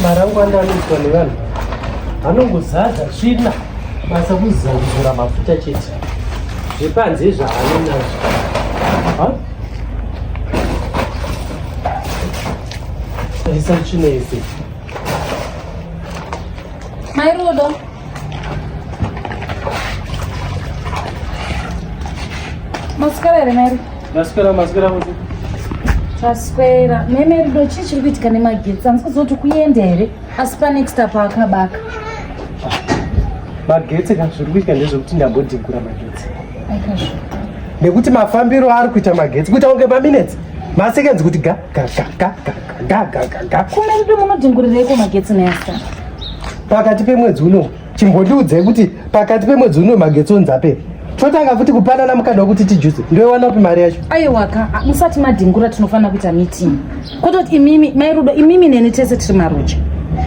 Marangwana anoitwa nevanhu anongozadza tsvina basa kuzamura mafuta chete zvepanze izvaanonazvo isa tsvina yese Mai Rudo. Maswera here Mai Rudo? Maswera, maswera kuti. Taswera. Mai Mai Rudo, chii chiri kuitika nemagetsi? Handisi kuziva kuti kuenda here? Asi pane next up akabaka. Magetsi ka zviri kuitika ndezvekuti ndambodhigura magetsi. Nekuti mafambiro ari kuita magetsi kuita kunge maminetsi. Masekenzi kuti ga ga ga ga ga. gagagagakona kuti munodhingurireiko magetsi nesa pakati pemwedzi uno chimbotiudzai kuti pakati pemwedzi uno magetsi onzi apera totanga futi kupanana mukana wekuti tijuse ndoiwana upi mari yacho aiwaka musati madhingura tinofanira kuita meeting kwete kuti imimi mai rudo imimi neni tese tiri maroja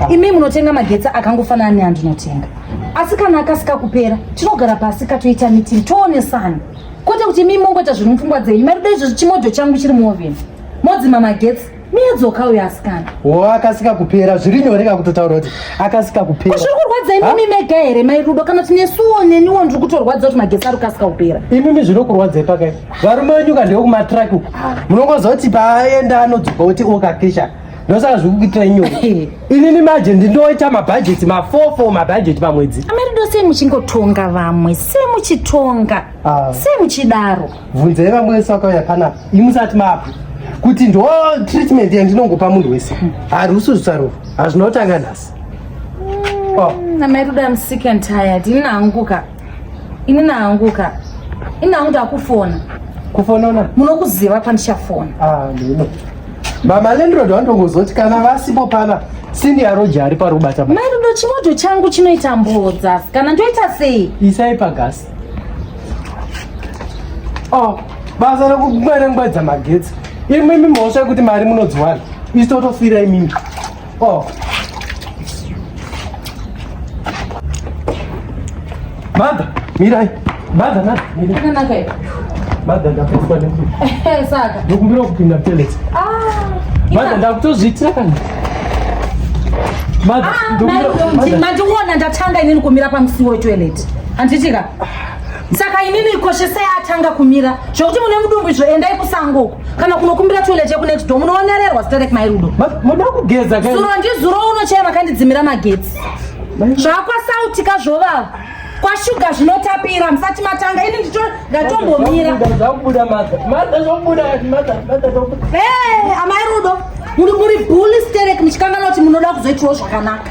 ah. imimi munotenga magetsi akangofanana neandinotenga asi kana akasika kupera tinogara pasi katoita meeting toonesana kwete kuti imimi mongoita zviri mupfungwa dzenyu mai rudo izvozvi chimodho changu chiri muoveni modzima magetsi miyadzoka uyo asikana wo akasika kupera zviri nyore ka kutotaura kuti akasika kupera zviri kurwadza imimi mega here mai rudo kana tine suwo neniwo ndiri kutorwadza kuti magetsi ari kukasika kupera imimi zvino kurwadzai pakai varume venyu ka ndewe kumatraki uku munongoziva kuti paaenda anodzoka kuti okakisha ndosaka zviri kuitira nyore inini maje ndindoita mabhajeti mafofo mabhajeti pamwedzi amarido sei muchingotonga vamwe sei muchitonga ah. sei muchidaro bvunzai vamwe vese vakauya panapa imusati mapa kuti ndo treatment yandinongopa munhu wese harusi zvisaruro hazvina kutanga nhasi mm, oh. namairuda am sick and tired ini naanguka ini naanguka ini nangu ndakufona kufonona munokuziva pandichafona ah, ndino mama lendrod wandongozoti kana vasipo pana senior roja ari parubata mairudo chimoto changu chinoita mbodza kana ndoita sei isai pagasi Oh, basa rekukwerengwedza magetsi imwe imi mhosva yekuti mari munodziwana isi totofira imimi oh. madha mirai madha madha mirai madha ndakufwa nekuti eh, saka ndokumbira kupinda peleti ah, madha ndakutozviitira kana ah, mandiona ndatanga inini kumira pamusiwo wetoilet handitika saka inini ikoshesei atanga kumira zvokuti mune mudumbu izvo endai kusango uko kana kunokumbira toilet yekunext door munoonererwa zita rake mairudo muda kugeza zuro ndizuro unochaya makandidzimira magetsi zvakwasautika zvovava kwashuga zvinotapira musati matanga ini ndicho ndatombomira amai rudo muri buli sterek muchikanganwa kuti munoda kuzoitiwo zvakanaka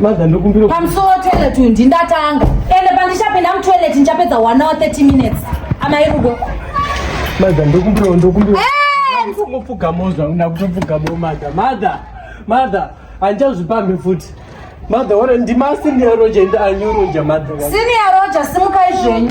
Mother ndokumbira pamusuwo toilet uyu ndindatanga ende pandichapinda mutoilet ndichapedza 1 hour 30 minutes amai rudo Mother ndokumbira ndokumbira Mupfugamo zvauna kutopfugamo mother mother mother handichazvipambi futi mother ora ndima senior roja ende anyoroja mother Senior Roger simukai zvenyu